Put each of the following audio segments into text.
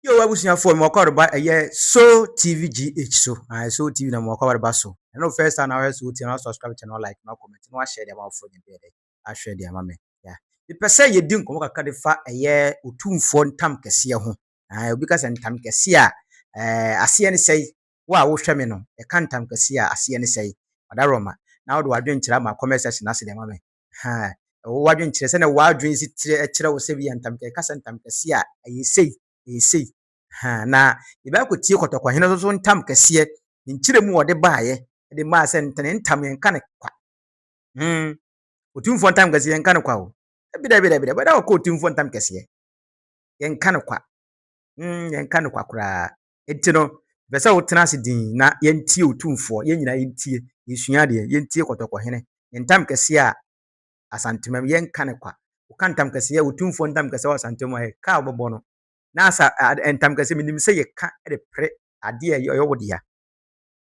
Yo abusuafoɔ mewɔ kɔ reba ɛyɛ so tv gh so ae so tv na mewɔ kɔ reba so ɛno first time na wɔhwɛ so tv na subscribe channel like na comment na wɔahyɛ deɛ ama wɔfoɔ nyɛ dɛ ahwɛ deɛ ama me ya mepɛ sɛ yɛdi nkɔmmɔ kakra de fa ɛyɛ otumfoɔ ntam kɛseɛ ho ae obi ka sɛ ntam kɛseɛ a ɛɛ aseɛ ne sɛe wo a wohwɛ me no ɛka ntam kɛseɛ a aseɛ ne sɛe ɔda roma na wode wadwenkyerɛ ama comment section ase deɛ ama me Ahaa. Ɛwɔ w'adwene kyerɛ, sɛdeɛ w'adwene si kyerɛ, ɛkyerɛ wo sɛ wei yɛ ntam, ɛka sɛ ntam kɛseɛ a, ɛyɛ sei, ɛyɛ sei. Ahaa. Na yɛbɛakɔtie Kɔtɔkɔhene nso so ntam kɛseɛ, ne nkyerɛmu a ɔde baeɛ, de maa sɛ nta, ne ntam yɛnka no kwa. Hmm. Otumfoɔ ntam kɛseɛ, yɛnka no kwa o. Dabi, dabi, dabi, dabi, ɛda hɔ kɔ Otumfoɔ ntam kɛseɛ. Yɛnka no kwa. Hmm, yɛnka no kwa koraa. Nti no, mepɛ sɛ wotena ase dinn na yɛntie Otumfoɔ, yɛn nyinaa yɛntie, yɛnsua adeɛ, yɛntie Kɔtɔkɔhene, ne ntam kɛseɛ a Asantemam, yɛnka no kwa. Woka ntam kɛseɛ, Otumfoɔ ntam kɛseɛ wɔ Asantemam a, ɛka a wobɛbɔ no. Na asa, ntam kɛseɛ, menim sɛ yɛka de pere adeɛ a ɛyɛ wo dea.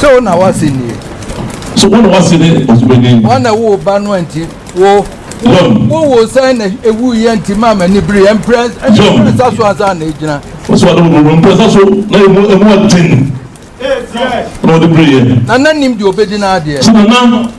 sɛ wo na woase nie so wo na woase ne ɔsomani wɔn na wo ba no nti wo wowo sɛn na ewu yɛ nti maa ma nibiri yɛ mpere nsa so ansa na egyina. wosi wade wo wo mpere nsa so na emu emu aden na ɔde biri yɛ. nana nim deɛ obedi n'adeɛ. so nana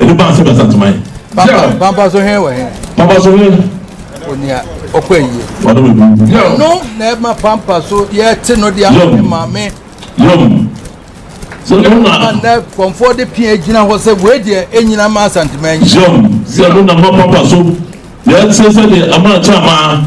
Ɛde baa sɛ bɛsa ntoma yi. Papa papa so hɛn wɔ hɛn. Papa so hɛn. Onia ɔkɔ ayie. Ɔno bɛ bu. Ɛno na ɛma pampa so yɛte no de ama ne maame. Yom. So ɛno na. Ɛma nnɛ kɔnfoɔ de pia gyina hɔ sɛ wei deɛ ɛnyina ma asantuma anyi. Yom. Sɛ ɛno na ma pampa so yɛte sɛ deɛ ama kyɛ amaa.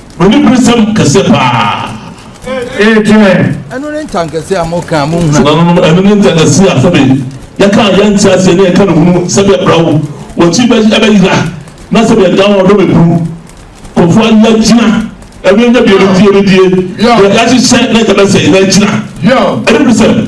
Oniberesɛm kɛse paa ee twɛn. Ɛno ne ntankɛse a mo kaa mo nhunu. Nananom ɛno ne ntankɛse a sɛbe yɛ kaa yɛ nte aseɛ ne yɛ ka ne hunu sɛbe yɛ bra wo wɔ kyi bɛ ɛbɛ yira na sɛbe yɛ da wɔ dɔ bɛ buru kɔfo a yɛ gyina ɛno yɛ bi yɛ die yɛ die yɛ yɛ hyehyɛ na yɛ bɛ sɛ yɛ gyina. Oniberesɛm.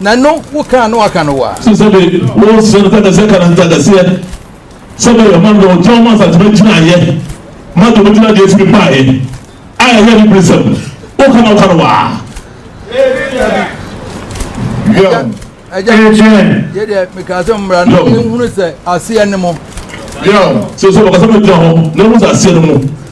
Na no wo ka a na waka no wa. Sɛ sɛbe wo nsrɛ no kakɛsɛ ka no ntakɛseɛ, sɛbe yɛ ɔma no dɔ ɔgya ɔma asatema gyinaeɛ, ma dɔ bɛgyina deɛ ɛfiri baeɛ a ɛyɛ ne beresɛm, wo ka na woka no wa. Yɛn. Agya, yɛ deɛ mekaa sɛ mmra no nhunu sɛ aseɛ ne mo. Yɛn. Sɛ sɛ wɔkasa ma gyina hɔ na ɛhu sɛ aseɛ ne mo.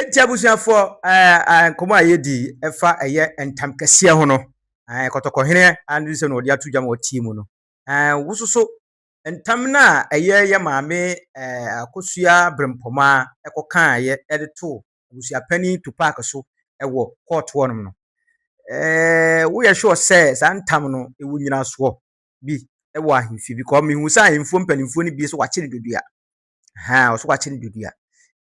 Enti abusuafoɔ, nkɔmmɔ a yɛdi ɛfa ɛyɛ ntamkɛseɛ ho no, kɔtɔkɔhene Andrew sɛ na ɔde ato dwa ma ɔtie mu no, wososo ntam no a ɛyɛ yɛ maame Akosua Brempɔma kɔkaeɛ de too abusuapanin Tupac so wɔ kɔɔto hɔnom no, woyɛ sure sɛ saa ntam no ɛwɔ nyinasoɔ bi wɔ ahemfie bi kɔɔ mehu sɛ ahemfo mpanimfoɔ no bi so wɔakyere dodua. Ahaa, ɔso wakye no dodua.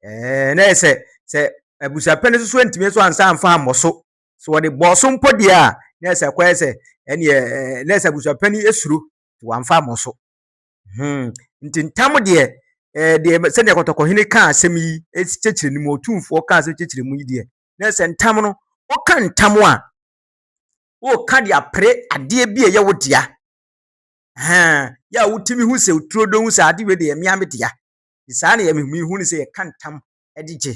Ɛɛ, na yɛ sɛ sɛ abusuapɛn no soso ntumi nso ansa amfa ammɔ so. So wɔde bɔɔ so mpo deɛ a, na yɛ sɛ ɛkɔyɛ sɛ ɛneɛ ɛɛ na yɛ sɛ abusuapɛn no esuro wɔamfa ammɔ so. Hmm, nti ntam deɛ ɛɛ eh, deɛ sɛdeɛ kɔtɔkɔhene kaa asɛm yi kyekyere no mu, otumfoɔ kaa asɛm kyekyere mu yi deɛ, na yɛ sɛ ntam no, woka ntam a, woka de apere adeɛ bi a ɛyɛ wo dea. Ahaa, yɛ a wotumi hu sɛ oturo dɔ hu sɛ ade wei deɛ ɛyɛ me ara me dea. Nti saa na yɛn mehunu ne sɛ yɛka ntam de gye.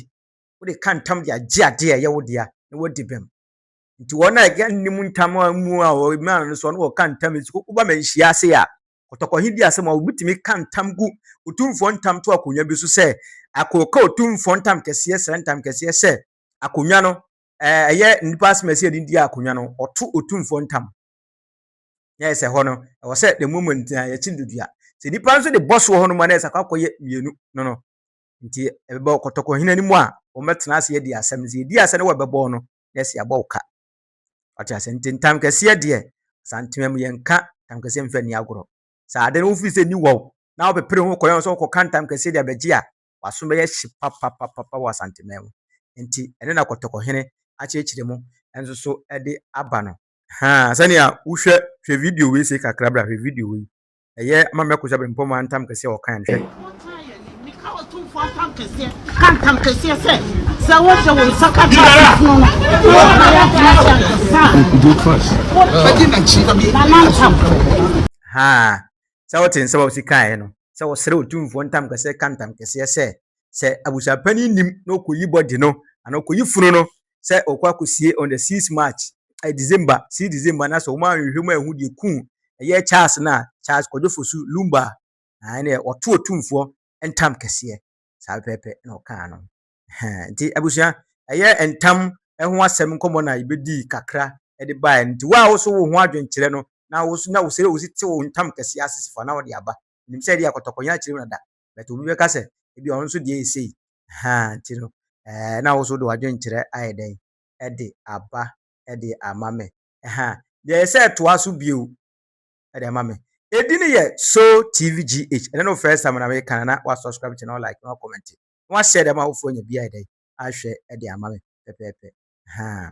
Wode ka ntam de agye adeɛ a ɛyɛ wo dea na woadi bem. Nti wɔn a yɛka nnim ntam a mu a wɔyɛ mmaa no nso no wɔka ntam nti woba manhyia ase a kɔtɔkɔ he di asɛm a wobɛtumi ka ntam gu otumfoɔ ntam to akonnwa bi so sɛ akɔka otumfoɔ ntam kɛseɛ sra ntam kɛseɛ sɛ akonnwa no ɛyɛ nnipa asɛm a ɛsɛ yɛde di akonnwa no ɔto otumfoɔ ntam. na ayɛ sɛ hɔ no, ɛwɔ sɛ the moment nti na yɛkyi no dua. Sɛ nipa nso de bɔ soɔ hɔ no mu a na ayɛ sɛ akɔakɔyɛ mmienu no no. Nti ɛbɛba ɔkɔtɔkɔhene no mu a, wɔbɛtena ase adi asɛm no. Sɛ yɛdi asɛm no wɔ ɛbɛbɔ no, na ɛsɛ yɛabɔ wo ka. Ɔte ase nti ntam kɛseɛ deɛ, asantema mu yɛnka ntam kɛseɛ mfa ni agorɔ. Sɛ ade no wofiri sɛ ni wɔ wo, na wopepere ho kɔyɛ nso wokɔka ntam kɛseɛ de abɛgye a, waso bɛyɛ hye papapapapa wɔ asantema mu. Nti ɛno na kɔtɔkɔhene akyerɛkyerɛ mu nso so de aba no. Haa sɛnea wohwɛ hwɛ video wei se kakra bra hwɛ video wei ɛyɛ ama mɛko sɛ bɛmpɔ mu antam kɛseɛ ɔkan hwɛ ka ntam kɛseɛ sɛ sɛ wode wo nsa ka tafono no haa sɛ wote nsɛm a wosi kaeɛ no sɛ wɔsrɛ ɔtumfoɔ ntam kɛseɛ ka ntam kɛseɛ sɛ sɛ abusuapani nim na ɔkɔyi bɔde no anaa ɔkɔyi funu no sɛ ɔkɔ akɔsie on the six march eh, december si december na sɛ wɔn anhwehwɛ mu ahu deɛ kuu ɛyɛ charles no a charles kwadwo fosu lumba a ɛne ɔto ɔtumfoɔ ntam kɛseɛ saa pɛpɛpɛ na ɔkaa no nti abusua ɛyɛ ntam ɛho asɛm nkɔmmɔ na yɛbɛdii kakra ɛde baeɛ nti wo a wo so wo ho adwenkyerɛ no na wo so na wo sɛ wo si te wo ntam kɛseɛ asesifo na wɔde aba nim sɛ ɛde akɔtɔkɔnyɛ akyerɛ mu na da But obi bɛka sɛ, ebi ɔno nso deɛ yɛ sei. Ahaa, nti no, ɛɛ, na wo nso wode w'adwenkyerɛ ayɛ dɛn de aba de ama me? Ahaa, deɛ ɛyɛ sɛ toa so bio de ama me. Edi no yɛ Soul TV GH. Ɛnɛ no first time na meka no, na woasubscribe kyɛ na woalike na woakɔmmɛnte. Na woahyɛ de ama awofoɔ anya bi ayɛ dɛn ahwɛ de ama me pɛpɛɛpɛ. Ahaa.